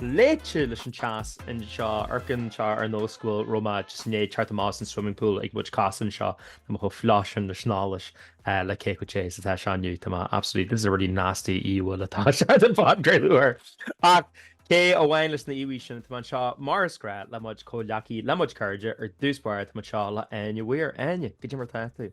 leáite leis an teas anseo amharcann seo ar nós go bhfuil raibh mé ag snámh thart ins an swimming pool ag muid casadh anseo tá mé chomh fliuch sin leis an allas le cé chomh te is atá sé inniu tá mé absolutely this is a really nasty íomhá atá anseo den phodchraoladh ach cé amháin leis an íomhá sin tá mé anseo mar is gnách le mo chuid comhghleacaithe le mo chuid cairde ar dtús báire tá mé anseo le Áine Weir Áine cad é mar atá tú.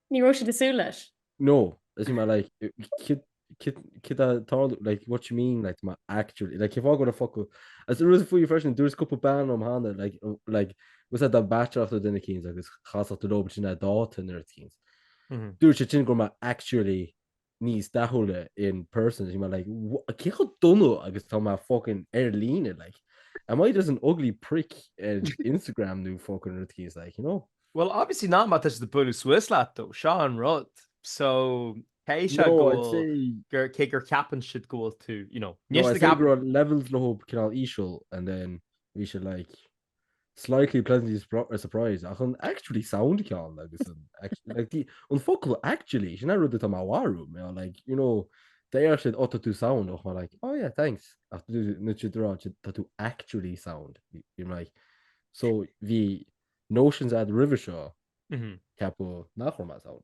Ní raibh siad ag súil leis. No, is mar like kid kid a tarlu like what you mean like ma actually like if I go to fuck as the rules for you fresh and there's couple ban om hana like uh, like was that the bachelor after dinner kings agus chas to do between that dot and their kings mm-hmm. do se tin go ma actually níos dathúla in person is bhí mé like wha- cé chomh dona agus atá mé fucking ar líne like am I just an ugly prick ar Instagram nó fucking rud eicínt like you know Bhuel, obviously not má tá siad ag bualadh suas leat though, seo an rud. So, cé is ea no go I'd bhfuil, say gur, cé gur ceapann siad go bhfuil tú, you know, no níl siad I'd ag say go ceapadh. raibh levels leo cineál íseal and then bhí siad like slightly pleasantly surprised ach an actually sound ceann agus an actually like the an focal actually sin rud atá má bharú mé like you know they are said utter to sound och like oh yeah thanks ach nu si dra tá tú actually sound you're like so the notions at river seo ceapú nach chum sound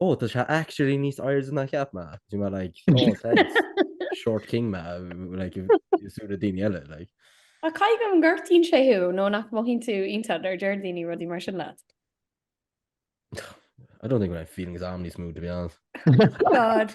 Oh tá sé actually níos airde ná cheap mé. Bhí mé like, oh thanks. Short king mé like i súile daoine eile like. Ach caithfidh go ngortaíonn sé thú nó nach mothaíonn tú iontach nuair a deir daoine rudaí mar sin leat. I don't think go bhfuil feelings agam níos mó to be honest. God.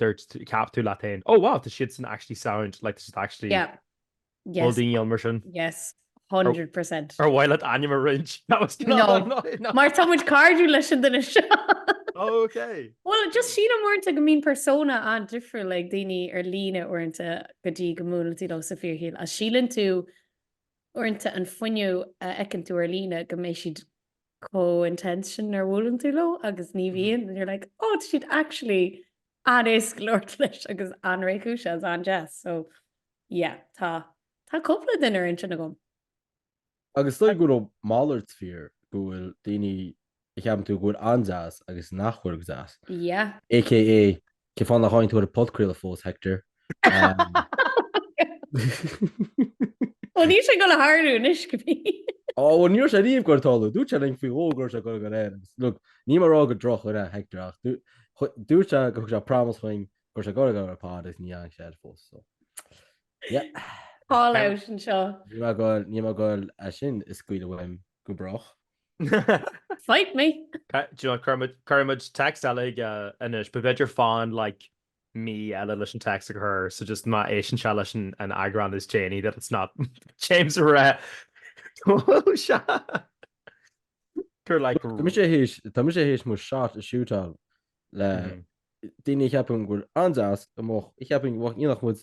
dúirt tú, cheap tú leat féin, oh wow, tá siadsan actually sound, like tá siad actually Yeah, yes. bhfuil daoine ann mar sin? Yes, hundred percent. Ar mhaith leat ainm a roinnt? That was No. no, no, no. Mar tá muid cairdiúil leis an duine seo. Oh, ok. Bhuel, just sílim uaireanta go mbíonn persona an-difriúil ag daoine ar líne uaireanta go dtí go mbuaileann tú leo sa fíorshaol. Is síleann tú uaireanta an fuinneamh a fheiceann tú ar líne go mbeidh siad chomh intense sin nuair a bhuaileann tú leo agus ní bhíonn and you're like oh tá siad actually an-éasca labhairt leis agus an-réchúis is an-deas so yeah tá tá cúpla duine ar intinn agam. Agus dóigh go bhfuil a mhalairt fíor go bhfuil daoine a cheapann tú go bhfuil an-deas agus nach bhfuil go deas. Yeah. AKA Cén fáth nár tháinig tú ar an podchraoladh fós, Hector? Ó, níl sé ag dul ag tarlú anois, go bhí. Ó, bhuel, ní raibh sé riamh ag dul ag tarlú. Dúirt sé linn faoi dhó go raibh sé ag dul ag dul air agus, look, níl mé ag rá gur drochdhuine é, Hector, ach dúirt sé go thug sé promise dúinn go raibh sé ag dul ag dul ar an bpod agus níor tháinig sé air fós, so, yeah. Call out anseo. Níl mé ag dul, níl mé ag dul, é sin a scaoileadh uaim, go brách. Fight me! Do you know cuirfidh muid text eile chuige anois but b'fhéidir fan like mí eile leis an text a chur so just má éisteann sé leis an eagrán is déanaí that it's not James ag rá go bhfuil sé gur like Tá mise tar éis tá mise tar éis mo shot a shootáil le daoine a cheapann go bhfuil an-deas amuigh a cheapann go bhfuil nach muid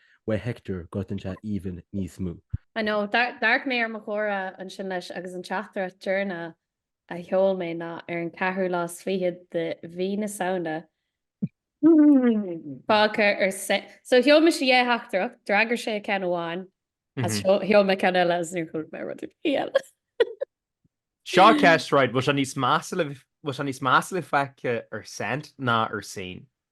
Wé Hector gortaíonn sé even níos mó. I know, d'amharc mé ar mo chomhrá ansin leis agus an teachtaireacht deireanach a sheol mé ná ar an 4ú lá 's 20 de mhí na Samhna fágtha ar so sheol mise dhá theachtaireacht, d'fhreagair sé ceann amháin is sheol mé ceann eile is níor chuala mé rud ar bith eile. Seo ceist, right, bhfuil sé níos measa a bheith fágtha ar sent ná ar seen?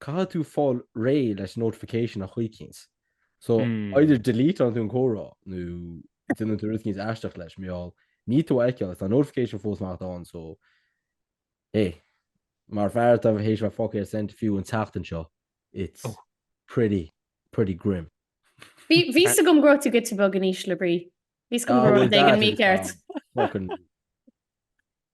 caithfidh tú fáil réidh leis notification ar chaoi éicint. So, either deleateann tú an comhrá nó déanann tú rud éicint aisteach leis, mar gheall, ní tú a fheiceáil, tá notification fós anocht ann, so, hé, mar fear atá tar éis a bheith fágtha ar sent fiú an tseachtain seo, it's pretty, pretty grim. Bhí a fhios agam go raibh tú giota beag in ísle brí. Bhí a fhios agam go raibh rud éigin mícheart. Fucking.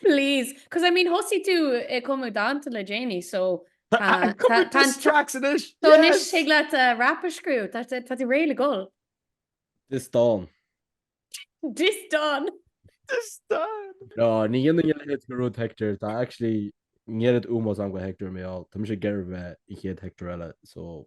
Please. Cos I mean thosaigh tú ag cumadh danta le déanaí so tá tá an tracks anois. So anois thig leat rap a scríobh, tá tá tú réidh le dhul. Dis dán. Dis dán. Dis dán. No ní dhéanfainn a leithéid de rud Hector, tá actually an oiread ómóis a'm do Hector mar gheall, tá mise ag iarraidh bheith an chéad Hector eile so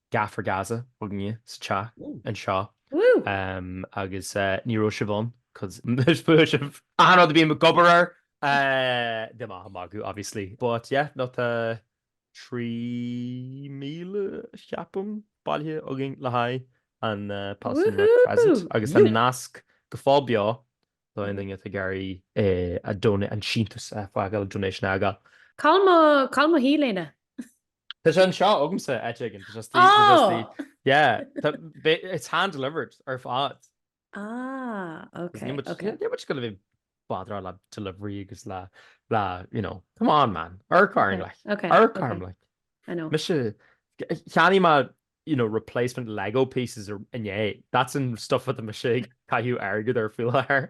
Gaff for Gaza againne sa teach anseo agus ní raibh sibh ann cos is fuath libh achan rud a bhím ag obair air níl mé ach ag magadh obviously but yeah nó tá 3,000 ceapaim bailithe againn le haghaidh an Palestinian Crescent agus an nasc go fóill beo so aon duine atá ag iarraidh a don an síntiús a fhágáil donation a fhágáil. Cá bhfuil mo, cá bhfuil mo T-léine. Tá sé anseo agamsa, áit éigin. Tá sé istigh, tá sé istigh. Oh! Yeah. Tá, ba- it's hand delivered ar fad. Ah, Agus ok, níl muid- ok. níl muid ag goil a bheith ag badráil le delivery agus le, le, you know, come on man, urcáirn Ok, like, ok, urcáirn ok. like. I know. Mise, cheannaigh mé, you know, replacement Lego pieces arú inné. That's an stuff atá mise ag caitheamh airgead ar faoi láthair.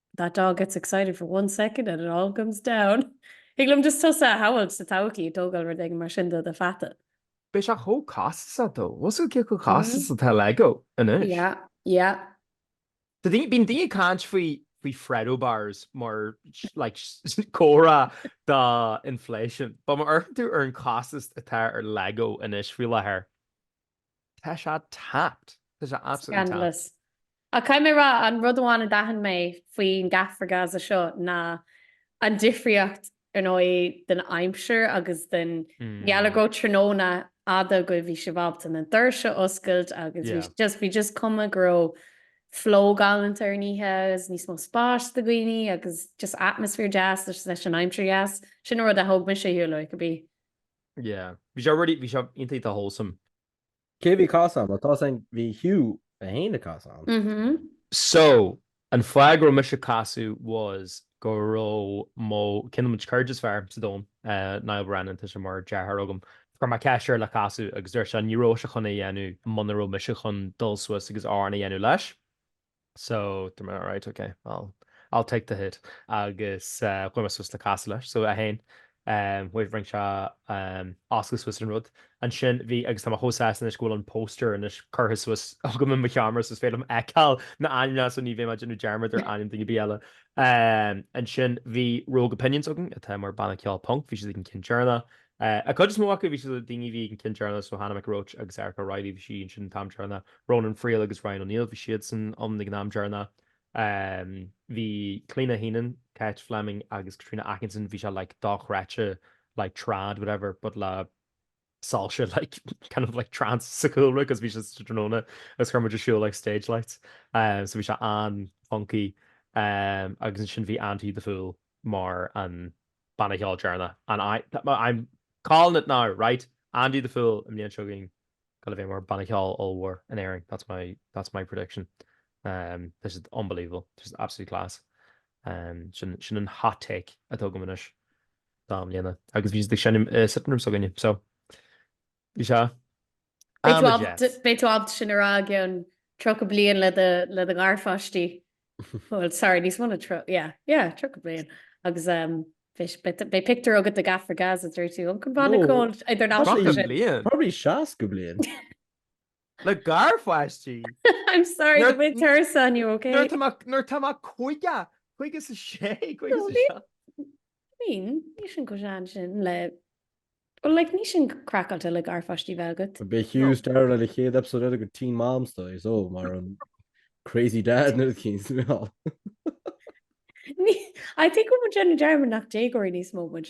That dog gets excited for one second and it all comes down. Thig liom just tusa a shamhailt sa todhchaí ag tógáil rud éigin mar sin do do pheata. Beidh sé chomh costasach though is é chomh costasach atá Lego anois. Yeah, yeah. Tá daoine, bíonn daoine ag caint faoi Freddo bars mar like comhartha do inflation. But má amharcann tú ar an costas atá ar Lego anois faoi láthair. Tá sé tapped. Tá sé absolutely tapped. Scandalous. Ach caithfidh mé rá, an rud amháin a d'aithin mé faoin Gaff for Gaza seo ná an difríocht, ar ndóigh, den aimsir agus i ngeall ar go tráthnóna fhada agaibh, bhí sibh ábalta na doirse a oscailt agus bhí just, bhí just cuma go raibh flow galánta ar an oíche agus níos mó spáis do dhaoine agus just atmaisféar deas leis an aimsir dheas. Sin an rud a thóg mise ar shiúl uaidh, could be. Yeah. Bhí sé really, bhí sé iontach wholesome. Cé a bhí ag casadh ann? Well, tá sin, bhí Hugh é féin ag casadh ann. Mhm. So, an fáth go raibh mise ag casadh was go raibh mo, ceann de mo chuid cairde is fearr sa domhan, Niall Brennan, tá sé mar deartháir agam, chuir mé ceist air le casadh agus dúirt sé ní raibh sé chun é a dhéanamh muna raibh mise chun dul suas agus amhrán a dhéanamh leis. So, dúirt mé alright, ok, I'll take the hit agus chuaigh mé suas le casadh leis. So, 1, Wait, rinne sé oscailt suas an rud. Ansin bhí, agus tá mé chomh sásta anois go bhfuil an poster anois curtha suas agam i mo sheomra so is féidir liom feiceáil na ainmneacha so ní bheidh mé ag déanamh dearmad ar ainm duine ar bith eile. Ansin bhí Rogue Opinions againn atá mar banna ceoil punc, bhí siad ag an ceann deireanach, An chuid is mó acu, bhí siad le daoine a bhí ag an ceann deireanach, so Hannah McRoach agus Erica Reilly, bhí sí ansin an t-am deireanach, Ronan Friel agus Ryan O'Neill, bhí siadsan ann ag an am deireanach. Bhí Clíona Heenan, Cáit Fleming agus Caitríona Atkinson, bhí sé like dochreidte like trad whatever but le soilse like kind of like trance sa chúlra cos bhí sé sa tráthnóna agus chuir muid ar siúl like stage lights so bhí sé an-funky agus ansin bhí Andy the Fool mar an banna ceoil deireanach, an I'm calling it now, right? Andy the Fool, an bhliain seo chugainn, chun a bheith mar banna ceoil ollmhór in Éirinn, that's my that's my prediction. Um this is unbelievable, this is absolute class. Um sin sin an hot take atá agam anois do i mbliana, agus bhí siad ag seinm i sitting room s'againn, so. Bhí sé am i gceart. Beidh tú ábalta sin a rá i gceann 30 bliain le do gharpháistí. Bhuel, sorry, níos mó na 30, yeah, yeah, 30 bliain. Agus beidh pictiúr agat de Gaff for Gaza dúirt tú, 'An um banna ceoil idirnáisiúnta sin. Probably 60 bliain. Le garpháistí? I'm sorry, Nuair- tá mé tuirseach inniu, okay? Nuair tá mé- nuair tá mé caoga, caoga is a sé, caoga No, sa ní- seacht. I mean, níl sin chomh sean sin le... Well, like, níl sin craiceáilte le garpháistí a bheith agat. Beidh Hugh dearad le le chéad episode eile de Teen Moms though so mar an crazy dad nó cín sa mheall. Ní- I think go bhfuil muid ag déanamh dearmad nach déagóirí níos mó muid.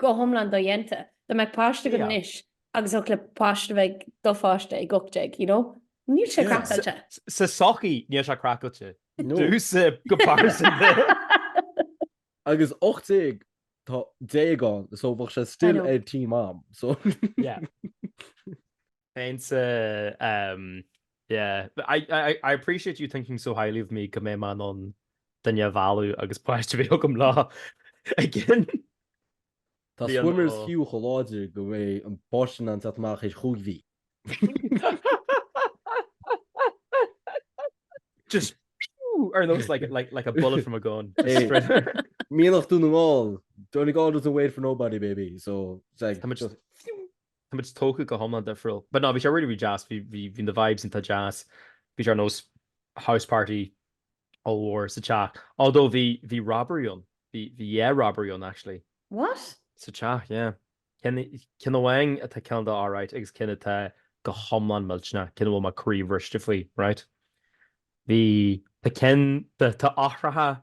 go hiomlán dodhéanta. Dá mbeadh páiste agat anois agus thiocfadh le páiste a bheith ag do pháiste ag 18, you know, níl sé craiceáilte. Sa tsochaí, níl sé craiceáilte. Do sa gcomparison de. Agus 18, tá déag ann, so bheadh sé still a teen mom, so. Yeah. Péinte, ehm, yeah. I, I, I appreciate you thinking so highly of me go mbeinn in ann duine a mhealladh agus páiste a bheith agam leo, agus. Tá Swimmers fiú chomh láidir go raibh an páiste in ann teacht amach i ndiaidh cúig mhí. Just pew! Ar nós like, like, like a bullet from a gun. Just straight there. Mianach Dún na nGall, Donegal doesn't wait for nobody, baby. So, it's like, Tá muid just... Tá muid tógtha go hiomlán difriúil. But no, bhí sé really, really deas. Bhí, bhí, bhí na vibes iontach deas. Bhí sé ar nós house party ollmhór sa teach. Although bhí, bhí robbery ann. Bhí, bhí yeah, robbery ann actually. What? Sa teach, yeah. Ceann, ceann amháin atá cineál alright agus ceann atá go hiomlán millteanach, ceann a bhfuil mo chroí briste faoi, right. Bhí, tá ceann, tá, tá eochracha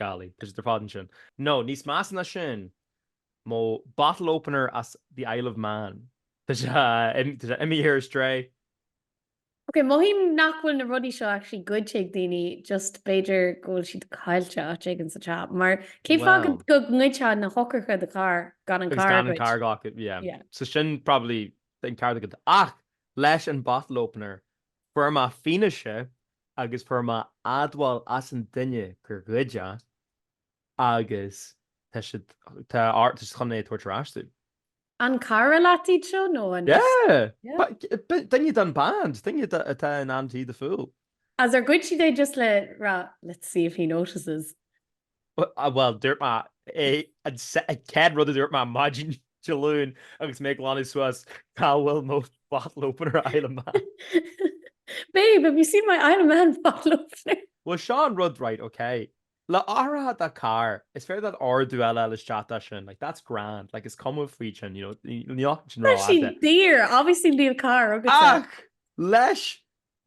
Gallaí, tá sé dáiríre fadhb ansin. No, níos measa ná sin, mo bottle opener as the Isle of Man. Tá sé imithe ar strae. Ok, mothaím nach bhfuil na rudaí seo actually goidte ag daoine, just b'fhéidir go bhfuil siad caillte áit éigin sa teach, mar cén fáth go go ngoidfeá na heochracha do charr gan an carr a ghoid? Agus gan an carr a ghlacadh, yeah. Yeah. So sin probably an ceart agat. Ach leis an bottle opener, Fuaireamar fianaise agus fuaireamar admháil ón duine gur ghoid siad é agus tá siad tá tá siad chun é a tabhairt ar ais domh. An cara leat iad seo nó an? Yeah! Duine den band, duine atá in Andy the Fool. Agus ar ghoid siad é just le rá let's see if he notices? Bhuel, dúirt mé é, an chéad rud a dúirt mé maidin Dé Luain agus mé ag glanadh suas cá bhfuil mo bottle opener Isle of Man. Babe, have you seen my Isle of Man bottle opener? Bhuel, seo an rud, right, ok. Le eochracha do charr, is féidir leat ordú eile a fháil isteach dá sin, like, that's grand, like, is cuma faoi sin, you know, níl aon rud fhada. Tá siad daor, obviously níl carr agatsa. Ach, leis,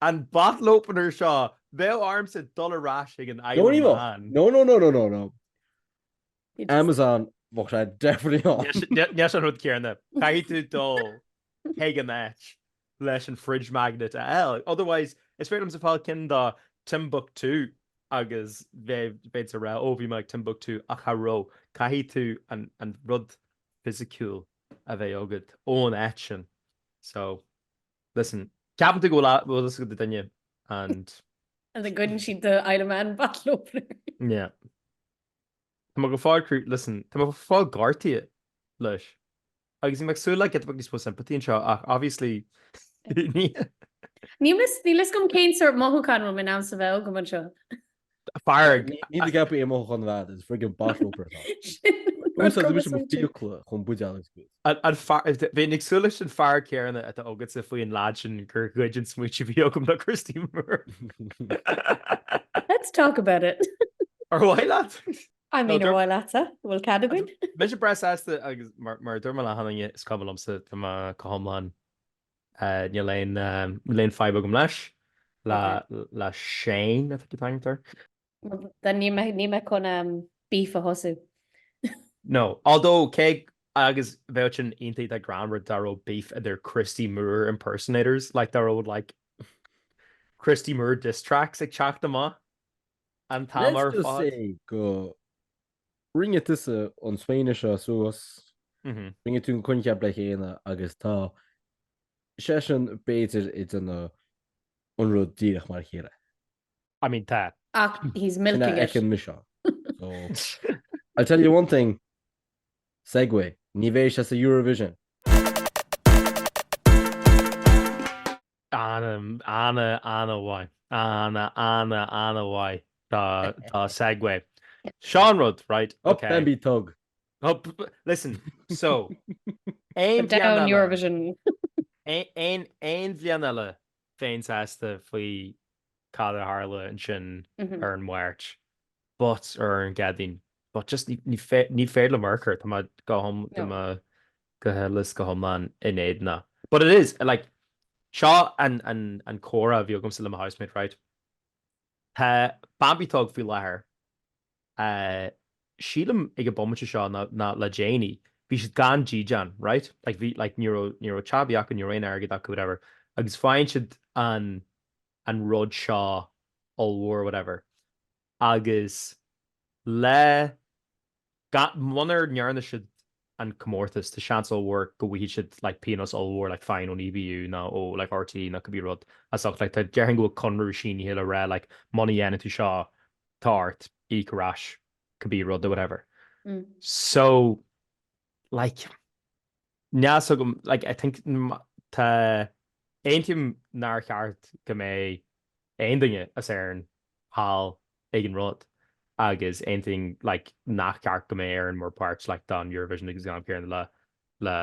An bottle opener seo! Bheadh ormsa dul ar ais chuig an Isle of Man. No, no, no, no, no, no. Amazon, bheadh sé definitely ann. Ní sin an rud céanna. Caithfidh tú dul chuig an áit leis an fridge magnet a fháil. Otherwise, is féidir liomsa fáil ceann dá Timbuktu agus bheith ag rá, Ó, bhí mé ag Timbuktu ach cha raibh. Caithfidh tú an rud fisiciúil a bheith agat ón áit sin. So. Listen, ceapann tú go bhfuil a, bhfuil aithne agat ar duine and. And then goideann siad do Isle of Man bottle opener. Yeah. Tá mé go fóill crú, listen, tá mé go fóill gortaithe leis. Agus bhí mé ag súil le giota beag níos mó sympathy anseo ach obviously ní. Níl fhios, níl fhios agam cén sórt mothúcháin a raibh mé in ainm is a bheith agam anseo. Fearg. Ní gap é i mo chuntar, is friggin bottle opener atá. Úsáid tú mise mo fiacla chun buideal is good. An fear, ní bheinn ag súil leis an fear céarna atá agatsa faoi an leaid sin gur ghoid an smaoineamh a bhí agam le Christy Moore. Let's talk about it. Ar mhaith leat? I mean ar mhaith leatsa? Bhfuil cead againn? Tá mise breá sásta agus mar a deir mo léine is cuma liomsa tá mé go hiomlán Níl aon fadhb agam leis, le Shane atá tú ag caint. Níl mé chun beef a thosú. No, although cé go mbeadh sin iontach greannmhar dá raibh beef idir Christy Moore impersonators, like dá raibh like Christy Moore diss tracks ag teacht amach an t-am ar fad. Let's just say go Rinne tusa an smaoineamh seo suas, rinne tú an coincheap le chéile agus tá seisean, b'fhéidir, ag déanamh an rud díreach mar a chéile. I mean, tá. Ach he's milking it. Sin a fheicim mise ann. So, I'll tell you one thing, segue, ní bheidh sé sa Eurovision. Ana, ana, ana mhaith. Ana, ana, ana mhaith. Tá, tá segue. Seo an rud, right, Up okay. then Bambie Thug. Up, listen, so, aon But bhliain down eile, Eurovision. aon- aon aon bhliain eile bheinn sásta faoi cad a tharla ansin Mhm. ar an Máirt, but, ar an gCéadaoin, but just ní, ní, fé- ní féidir liom mar, tá mé go hioml, No. tá mé go heolais, go hiomlán in éadan a. But it is, like, seo an, an, an comhrá a bhí agamsa le mo housemate, right. Tá Bambie Thug faoi láthair, eh, sílim ag an bomaite seo ná, ná le déanaí, bhí siad gan dídeán, right, like, bhí, like, ní raibh, ní raibh teach acu, ní raibh aon airgead acu, whatever, agus faigheann siad an, an rud seo ollmhór, whatever, agus le Muna ndearna siad an comórtas, tá seans ollmhór go bhfaighidh siad like píonós ollmhór like fine ón EBU nó ó like RTÉ nó cibé rud as ucht like tá déarfainn go bhfuil conradh sínithe le rá like muna ndéanann tú seo tá ort íoc ar ais cibé rud nó whatever so like yeah so like I think tá aontaím nár cheart go mbeadh aon duine as Éirinn thall ag an rud agus aontaím like nach ceart go mbeadh Éirinn mar páirt like don Eurovision agus gan Piarann le le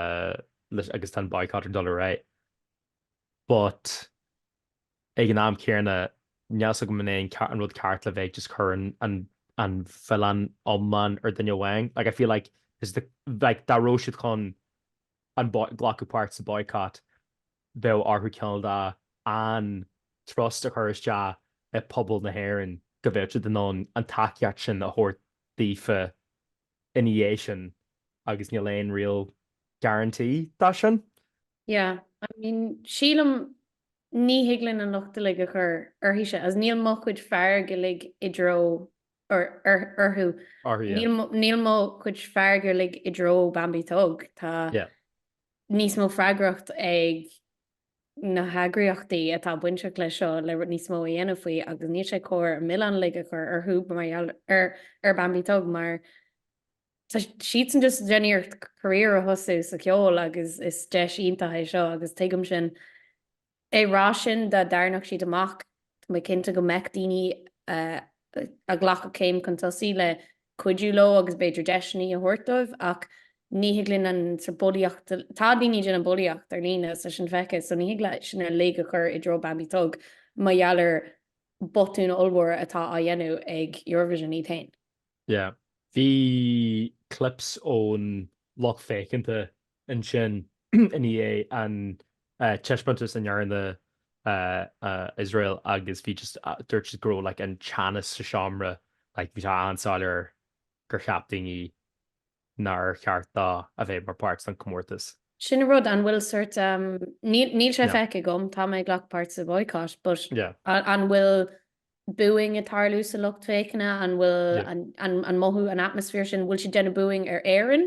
le agus tá an boycott ag dul ar aghaidh. But ag an am céarna níl 's agam an é an an rud ceart le bheith ag just cur an an an milleán iomlán ar dhuine amháin. Like I feel like is the like dá raibh siad chun an boy glacadh páirt sa boycott bheadh orthu cineál an trust a chur isteach i pobal na hÉireann go bhfuil siad in ann an tacaíocht sin a thabhairt daofa ina dhiaidh sin agus níl aon real guarantee dó sin. Yeah, I mean sílim ní thig linn an locht uilig a chur orthusan as níl mo chuid fearg uilig i dtreo orthu, níl mo chuid fearg uilig i dtreo Bambie Thug, tá níos mó freagracht ag na heagraíochtaí atá bainteach leis seo le níos mó a dhéanamh faoi agus níl sé cóir an milleán uilig a chur orthu mar gheall ar Bambie Thug mar tá siadsan just déanamh iarracht career a thosú sa cheol agus is deis iontach é seo agus tuigim sin É ráite sin dá dtarraingeodh siad amach, tá mé cinnte go mbeadh daoine a ghlacfadh céim chun tosaigh le cuidiú leo agus b'fhéidir deiseannaí a thabhairt dóibh ach ní thig linn an sa bulaíocht, tá daoine ag déanamh bulaíocht ar líne tá sin feicthe so ní thig linn sin uilig a chur i dtreo Bambie Thug mar gheall ar bhotúin ollmhóra atá á dhéanamh ag Eurovision iad féin. Yeah. Bhí clips ón lucht féachanta ansin i ndiaidh an taispeántas a ndearna Iosrael agus bhí just, dúirt siad go raibh like an teannas sa seomra like bhí sé an-soiléir gur cheap daoine nár cheart dóibh a bheith mar páirt den comórtas. Sin a rud, an bhfuil sort um níl sé feicthe agam, tá mé ag glacadh páirt sa bhaghcat but an bhfuil booing ag tarlú sa lucht féachana, an bhfuil an mothú an atmaisféar sin, bhfuil siad déanamh booing ar Éirinn?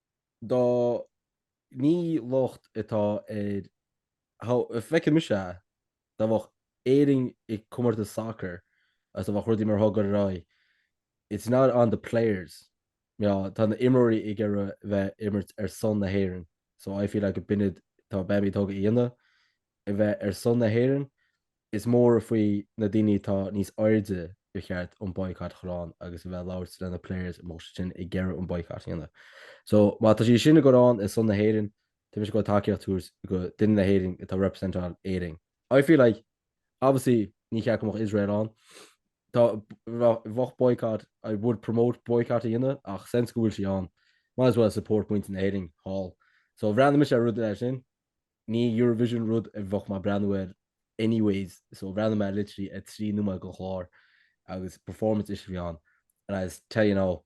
tá ní locht atá ar how feiceann mise é, dá bheadh Éirinn i comórtas sacair is dá bheadh rudaí mar atá ag goil ar aghaidh, it's not on the players, you know, tá na imreoirí ag iarraidh bheith imirt ar son na hÉireann, so I feel like an bit atá Bambie Thug a dhéanamh a bheith ar son na hÉireann. Is mór faoi na daoine atá níos airde gur cheart an boycott a chur ann agus a bheith ag labhairt leis na players a mbeadh siad sin ag iarraidh an boycott a dhéanamh. So má tá sí sin ag goil ann ar son na hÉireann, tá mise ag goil tacaíocht a thabhairt go duine na hÉireann atá ag representáil Éirinn. I feel like obviously ní cheart go mbeadh Israel ann. Dá mbeadh boycott I would promote boycott a dhéanamh ach since go bhfuil sí ann, might as well support muintir na hÉireann thall. So bhreathnaigh mise ar rud mar sin. Ní Eurovision rud a bheadh mé ag breathnú air anyways so bhreathnaigh mé ar literally ar trí nóiméad den chlár agus performance ise a bhí ann and I tell you now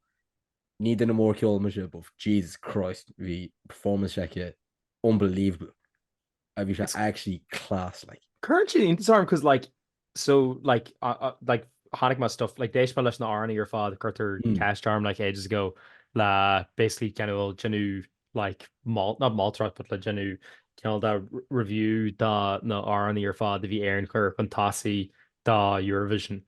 ní duine mór ceol mise but Jesus Christ bhí performance s'aici unbelievable a bhí sé actually class like Currently, sorry, because like So, like, like, rinne mé stuff, like, d'éist mé leis na amhránaí ar fad, cuireadh ceist orm, like, ages ago, le basically cineál déanamh, like, malt, not moltóireacht, but le déanamh cineál de review de na amhránaí ar fad a bhí Éireann ag cur chun tosaigh do Eurovision.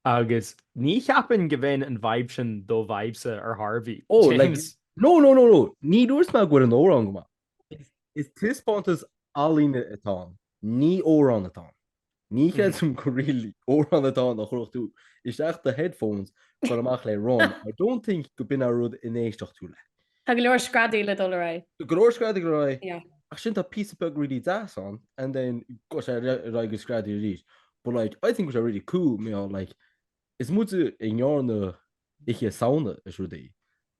Agus ní cheapaim go bhfeileann an vibe sin do vibes ar Harvey. Oh, like, no, no, no, no, ní dúirt mé go bhfuil an amhrán go maith. Is taispeántas ealaíne atá ann, ní hamhrán atá ann. Ní chreidim gur really amhrán atá ann a chuirfeadh tú isteach i do headphones ag dul amach le run, I don't think gurb in an rud a n-éistfeadh tú leis. Tá go leor screadaíl ag dul ar aghaidh. Tá go leor screadaíl ag dul ar aghaidh. Ach ansin tá píosa beag really deas ann and then gabhann sé ar aghaidh go screadaíl arís. But like I think go bhfuil sé really cool, you know, like is muide a rinne Oíche Samhna is rudaí.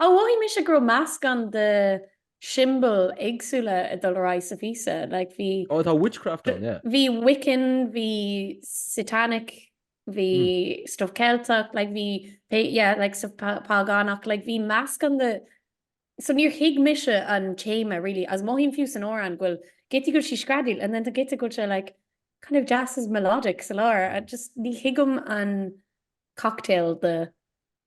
Ó, mhothaigh mise go raibh meascán de shiombailí éagsúla ag dul ar aghaidh sa phíosa, like bhí. Ó, tá witchcraft ann, yeah. Bhí Wiccan, bhí Satanic, bhí stuff Ceilteach, like bhí, yeah, like stuff págánach, like bhí meascán de, so níor thuig mise an téama really agus mothaím fiú san amhrán go bhfuil giota go bhfuil sí ag screadaíl and then tá giota go bhfuil sé like kind of deas is melodic sa lár, just ní thuigim an cocktail de.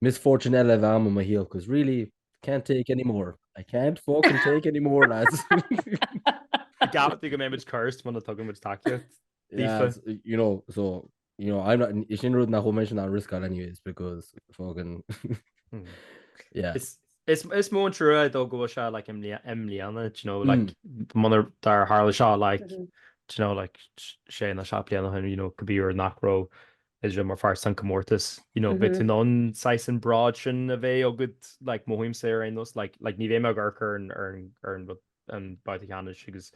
Misfortune eile a bheith i mo shaol 'cause really can't take any more I can't fucking take any more lads. Cheapfá go mbeimid cursed muna dtugaimid tacaíocht. Aoife. You know so you know I'm not is sin rud nach bhfuil mé chun a riskáil anyways because fucking yeah. Is is is mó an trua dó go bhfuil sé like im i mbliana you know like mm. munar tharla seo like mm -hmm. you know like sé nó seacht mbliana you know go b'fhéidir nach raibh Israel mar pháirt sa chomórtas, you know, bheadh tú in ann saghas an bród sin a bheith agat, like, mothaímse ar aon nós, like, like ní bheidh mé ag amharc ar an, ar an, ar an, an babhta ceannais agus,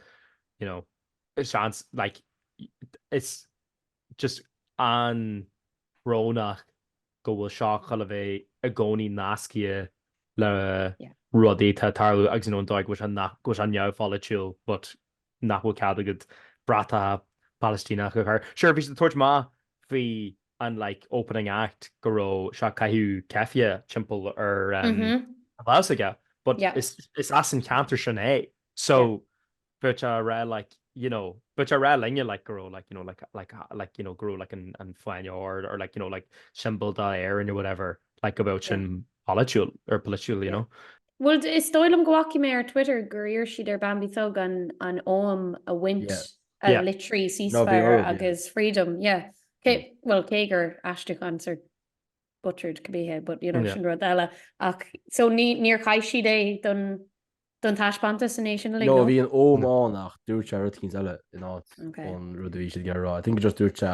you know, seans, like, it's just an-bhrónach go bhfuil seo chun a bheith i gcónaí nasctha le rudaí atá ag tarlú agus, you know, an dóigh go bhfuil sé, go bhfuil sé neamhpholaitiúil, but, nach bhfuil cead agat bratacha Palaistíneach a chur. Sure, bhí siad ag tabhairt amach faoi an like opening act go raibh sé caitheamh ceifé timpeall ar um, mm -hmm. a bhás aige, but yeah. is, is as an cheantar sin é. So yeah. but uh, rá like you know but you're right linge like grow like you know like like uh, like you know grow like an an fine or or like you know like symbol da air and or whatever like about sin political or political you know Bhuel, is dóigh liom go bhfaca mé ar Twitter gur iarr siad ar Bambie Thug an Ogham a bhaint a litrigh ceasefire agus freedom. Bhuel, cé gur aistriúchán sórt butchered ab ea é, but you know, sin rud eile. Ach so níor chaith siad é don taispeántas an é sin uilig, nó? No, bhí an Ogham ann ach dúirt sé rud eicínt eile in áit an rud a bhí siad ag iarraidh a rá. I think just dúirt sé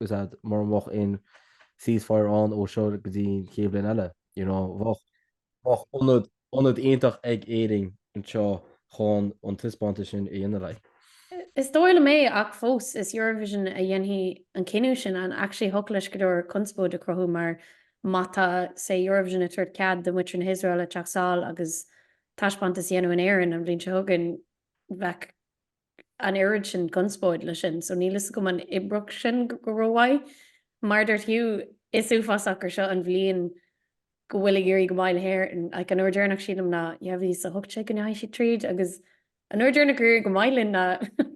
is ea mura mbeadh aon ceasefire ann ó seo go dtí an chéad bhliain eile, you know, bheadh, bheadh ionad, ionad aonta ag Éirinn anseo chun an taispeántas sin a dhéanamh, like. Is dóigh liom é, ach fós, is Eurovision a dhéanfaidh an cinneadh sin and actually thiocfadh leis go leor conspóid a chruthú mar má tá, say, Eurovision ag tabhairt cead do mhuintir na hIosraeile teacht sall agus taispeántas a dhéanamh in Éirinn an bhliain seo chugainn, bheadh. an oiread sin conspóid leis sin, so níl fhios agam an oibreodh sin go rómhaith. Mar a dúirt Hugh, is uafásach gur seo an bhliain go bhfuil ag éirí go maith le hÉirinn. Like, an uair deireanach sílim ná 2018 go ndeachaigh siad tríd agus an uair deireanach gur éirigh go maith linn ná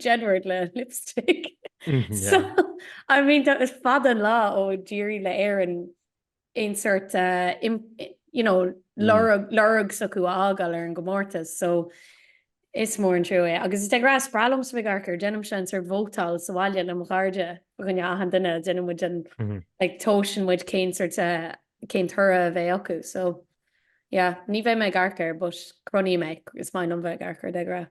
Jedward le Lipstick. Mm, yeah. so, I mean, tá is fada an lá ó d'éirigh le Éirinn aon sort de you know lorg lorg s'acu a fhágáil ar an gcomórtas so is mór an trua é. Agus is de ghnáth is breá liomsa bheith ag amharc air, déanaimse an sort vótáil sa bhaile le mo chairde i gcónaí achan duine, déanann muid an like tomhaiseann muid cén sort de cén toradh a bheidh acu so yeah ní bheidh mé ag amharc air but cronaím é, is maith liom bheith ag amharc air de ghnáth.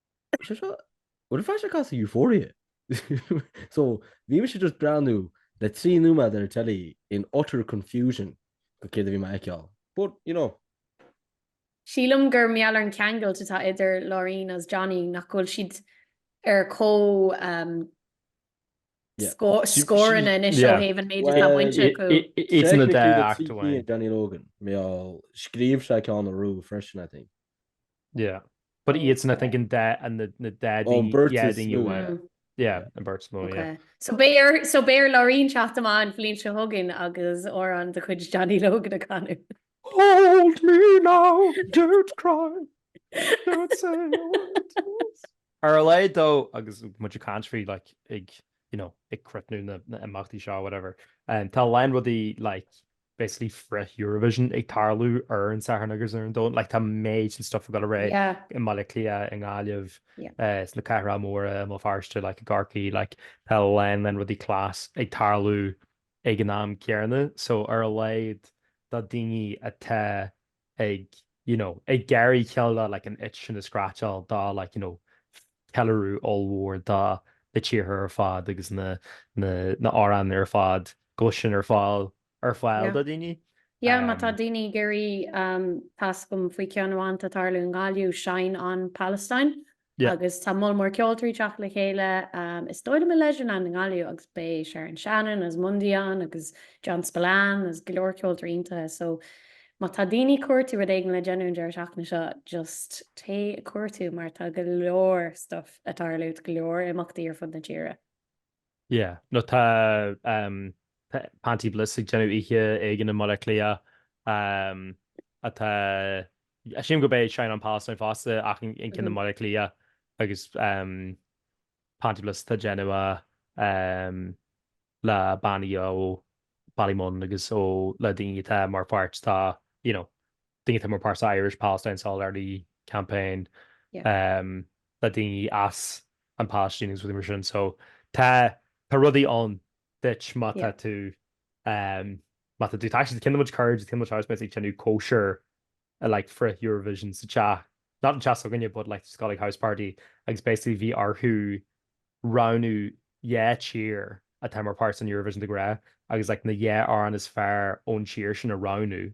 Sé seo, what a flash ag casadh Euphoria! So, bhí mise just breathnú le trí nóiméad ar an teilí in utter confusion go céard a bhí mé fheiceáil. But, you know. Sílim gur mar gheall ar an cheangailt atá idir Loreen as Johnny, nach bhfuil siad ar comhscór anois ó thaobh an méid atá bainte acu. Technically tá trí cinn ag Johnny Logan, mar gheall, scríobh sé ceann a bhuaigh freisin, I think. But iadsan I think an dá. An beirt is mó. Yeah, an beirt is mó, yeah. So beidh ar Loreen teacht amach an bhliain seo chugainn agus amhrán de chuid Johnny Logan a chanadh. Hold me now, don't cry, don't say a word. Ar a laghad dó, agus muid ag caint faoi like ag, you know, ag críochnú na n-imeachtaí seo whatever, tá a lán rudaí like basically frith-Eurovision ag tarlú ar an Satharn agus ar an Domhnach, like tá madden stuff ag dul ar aghaidh i mBaile Átha Cliath, i nGaillimh, sna cathracha móra, i mBéal Feirste, like i gCorcaí, like tá a lán lán rudaí class ag tarlú ag an am céanna, so ar a laghad do dhaoine atá ag, you know, ag iarraidh cineál de, like, an itch sin a scratcháil de, like, you know, ceiliúradh ollmhór de na tíortha ar fad agus na, na, na hamhráin ar fad, go bhfuil sin ar fáil, ar fáil Yeah. do dhaoine. Yeah, má tá Um, daoine ag iarraidh um, tá a fhios agam faoi ceann amháin atá tarlú i nGaillimh, Shine On Palestine, agus tá moll mór ceoltóirí teacht le chéile, is dóigh liom, i Leisureland i nGaillimh agus beidh Sharon Shannon as Mundy ann agus John Spillane agus go leor ceoltóirí iontacha, so má tá daoine ag cuartú rud éigin le déanamh an deireadh seachtaine seo, just téigh ag cuartú mar tá go leor stuff ag tarlú, go leor imeachtaí ar fud na tíre. Yeah. No tá ehm tá Panti Bliss ag déanamh oíche éigin i mBaile Átha Cliath ehm atá sílim gurb é Shine On Palestine fosta ach an an ceann i mBaile Átha Cliath agus ehm Panti Bliss atá ag déanamh a ehm le bannaí ó Ballymun agus ó le daoine atá mar pháirt dá you know atá mar pháirt sa Irish Palestine Solidarity Campaign le daoine as an Palaistín agus rudaí mar sin. So tá rudaí ann duit má tá tú, má tá tú actually. Ceann de mo chuid cairde, ceann de mo chuid housemates ag déanamh cóisir i like frith Eurovision sa teach, not an teach s'againne but like just got like house party agus basically bhí orthu roghnú dhá tír atá mar pháirt san Eurovision de ghnáth agus like na dhá amhrán is fearr ón tír sin a roghnú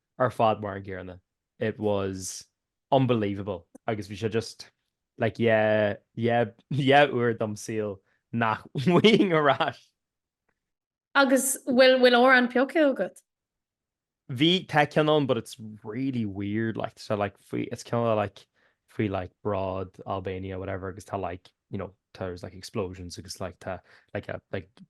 ar fad mar an gcéanna. It was unbelievable agus bhí sé just like yeah yeah yeah uair de mo shaol nach bhfaighinn ar ais. Agus bhfuil bhfuil amhrán pioctha agat? Bhí tá ceann ann but it's really weird like tá sé like faoi it's kind of like faoi like bród Albania whatever agus tá like you know there's like explosions agus like tá like a like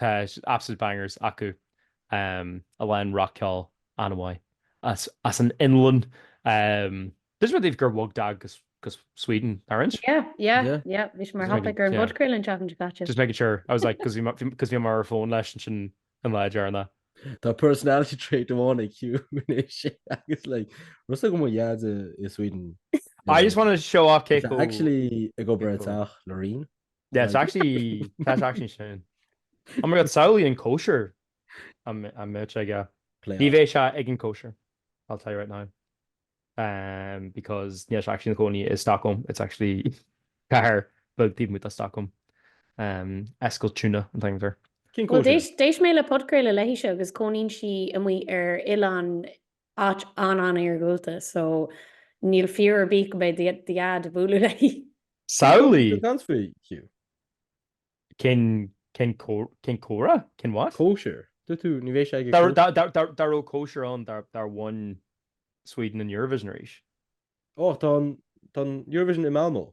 Tá absolute bangers acu a lán rock ceol an-mhaith as an Fhionlainn. D'inis mé daoibh gur bhog daid go Sweden, nár inis? Yeah, yeah, yeah. Bhí sé mar thopaic ar an bpodchraoladh an seachtain seo caite. Just making sure. I was like, because bhí mé ar fón leis ansin an lá deireanach. Tá personality trait amháin ag Hugh anois agus like raibh a fhios agat mo dhaid i Sweden. I just want to show off cé chomh. Tá sé actually ag obair ar teach Loreen. Yeah, it's actually, tá sé actually sin. Oh my god, samhlaigh an cóisir a mbeadh sé aige. Play Ní off. bheidh sé ag an cóisir, I'll tell you right now. Um, because níl sé actually ina chónaí i Stockholm, it's actually cathair beag taobh amuigh de Stockholm. Um, Eskilstuna an t-ainm air. Cén Well, cóisir? d'éist, d'éist mé le podchraoladh léithise agus cónaíonn sí amuigh ar oileán áit an-an-iargúlta so níl fear ar bith go mbeidh daid ag bualadh léi. Samhlaigh! Dance for you. Cén cén cén comhrá? Cén what? Cóisir. Dúirt tú ní bheidh sé ag dá dá dá dá dá raibh cóisir ann dá dá bhain Sweden an Eurovision arís. Ó tá an tá an Eurovision i Malmo.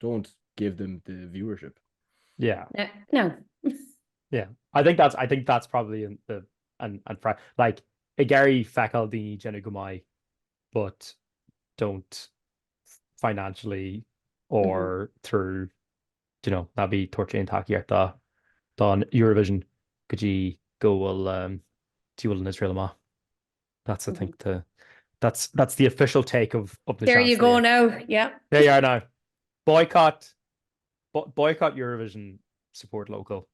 Don't give them the viewership. Yeah. No. No. Yeah. I think that's, I think that's probably an, the, an, an fra, like, ag iarraidh feiceáil daoine déanamh go maith but don't financially or mm -hmm. through, you know, ná bí tabhairt aon tacaíocht don Eurovision go dtí go bhfuil um, dtí bhfuil an Israel amach. That's I think the that's that's the official take of of the There you go now yeah There you are now Boycott boycott Eurovision support local.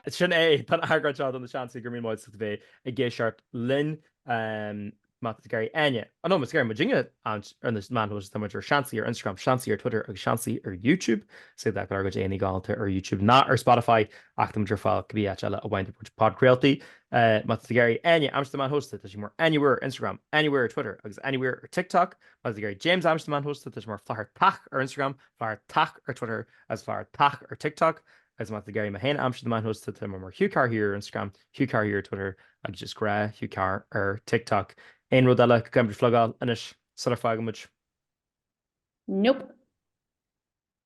Sin é tá an eagrán seo do na seansaí gur míle maith agat a bheith i gceist ort linn. Má tá sibh ag iarraidh Áine. Nó má tá sibh ag iarraidh muidinne ar na meáin shóisialta tá muid ar seansaí ar Instagram, seansaí ar Twitter agus seansaí ar YouTube. Is éard acu ár gcuid aghaidheanna galánta ar YouTube nó ar Spotify ach tá muid ar fáil cibé áit eile a bhfaigheann tú podchraoltaí. Má tá sibh ag iarraidh Áine a aimsiú ar na meáin shóisialta tá sí mar Anywhere ar Instagram, Anywhere ar Twitter agus Anywhere ar TikTok. Má tá sibh ag iarraidh James a aimsiú ar na meáin shóisialta tá sé mar Flathartach ar Instagram, Flathartach ar Twitter agus Flathartach ar TikTok. agus má tá sibh ag iarraidh mé féin a aimsiú ar na meáin shóisialta tá mé mar Hugh Carr here ar Instagram, Hugh Carr here ar Twitter agus just gnáth Hugh Carr ar TikTok. Aon rud eile go gcaithfimid a phlugáil anois sula bhfágann muid? Nope.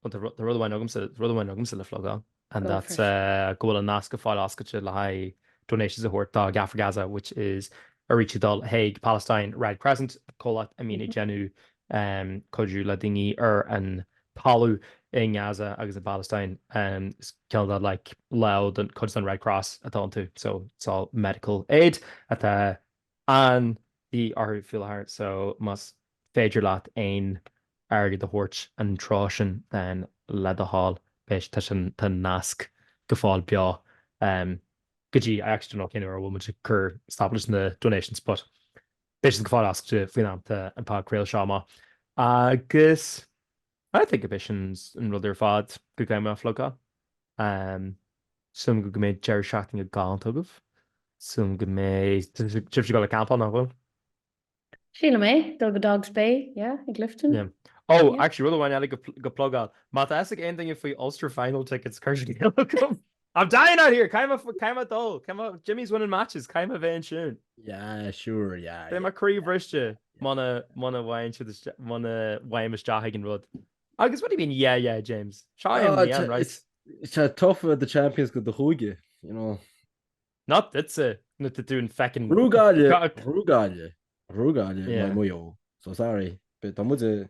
Bhuel tá tá rud amháin agamsa rud amháin agamsa le plugáil and that's eh, go bhfuil an nasc go fóill oscailte le haghaidh donations a thabhairt do GAA for Gaza which is airgead ag dul chuig Palestine Red Crescent, comhlacht a mbíonn ag déanamh em, cuidiú le daoine ar an talamh i nGaza agus i bPalestine. Is cineál de like lámh de chuid an Red Cross atá iontu, so it's all medical aid atá de dhíth orthu faoi láthair, so más féidir leat aon airgead a thabhairt ina threo sin then le do thoil beidh sé tá sé tá an nasc go fóill beo go dtí I actually don't know cén uair a bhfuil muid ag cur stop leis na donations but beidh sé go fóill oscailte faoin am atá an podchraoladh seo amach agus I think b'é sin an rud ar fad go gcaithfidh mé a phlugáil. Súil agam go go mbeidh deireadh seachtaine galánta agaibh, súil agam go mbeidh sibhse ag dul ag campáil, nach bhfuil? Sílim é, dul go Dogs Bay, yeah, i gClifden. Ó, actually rud amháin eile go plugáil, má tá fhios ag aon duine faoi Ulster Final tickets, cuir scéal chugam! I'm dying out here! Caithfidh mé, caithfidh mé dul, caithfidh mé, Jimmy's winning matches, caithfidh mé bheith ansin. Yeah, sure, yeah. Beidh mé croí bhriste muna, muna bhfaigheann siad isteach, muna bhfaighim isteach ag an rud. Agus what do you mean yeah, yeah, James? Seo é an líon, right? Tá sé tough bheith champions de do chúige, you know. Not duitse, nuair tá tú in feckin'. Brú Gaille, brú Gaille, brú Gaille, yeah, Maigh Eo, so sorry, but tá muid i,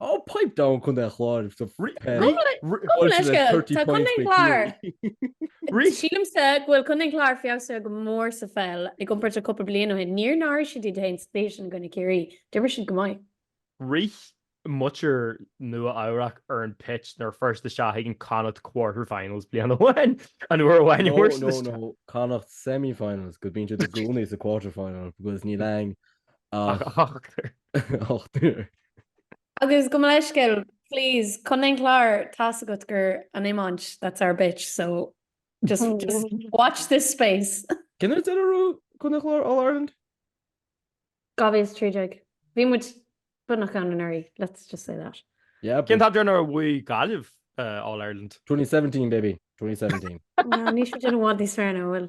Oh pipe down Contae an Chláir Sílimsa go bhfuil Contae an Chláir feabhsaithe go mór sa pheil i gcomparáid le cúpla bliain ó shin. Níor náirigh siad iad féin sa tsaois i gcoinne Ciarraí. D'imir siad go maith. Rith muintir Nua Eabhrac ar an pitch nuair a fuair siad isteach ag an Connacht Quarter Finals bliain amháin. An uair amháin a fuair siad isteach. No, no, no, Connacht Semi Finals. 'Cause bíonn siad i gcónaí sa Quarter Final because níl ann ach ochtar. Agus gabh mo leithscéal, please, Contae an Chláir tá a fhios agat gur an iomáint that's our bitch, so just just watch this space. Cén uair deireadh a bhuaigh Contae an Chláir All Ireland? 2013. Bhí muid beagnach ann anuraidh, let's just say that. Yeah, but cén t-am deireanach ar bhuaigh Gaillimh All Ireland? 2017, baby, 2017. No, níl siad i bhfad níos fearr ná, bhfuil,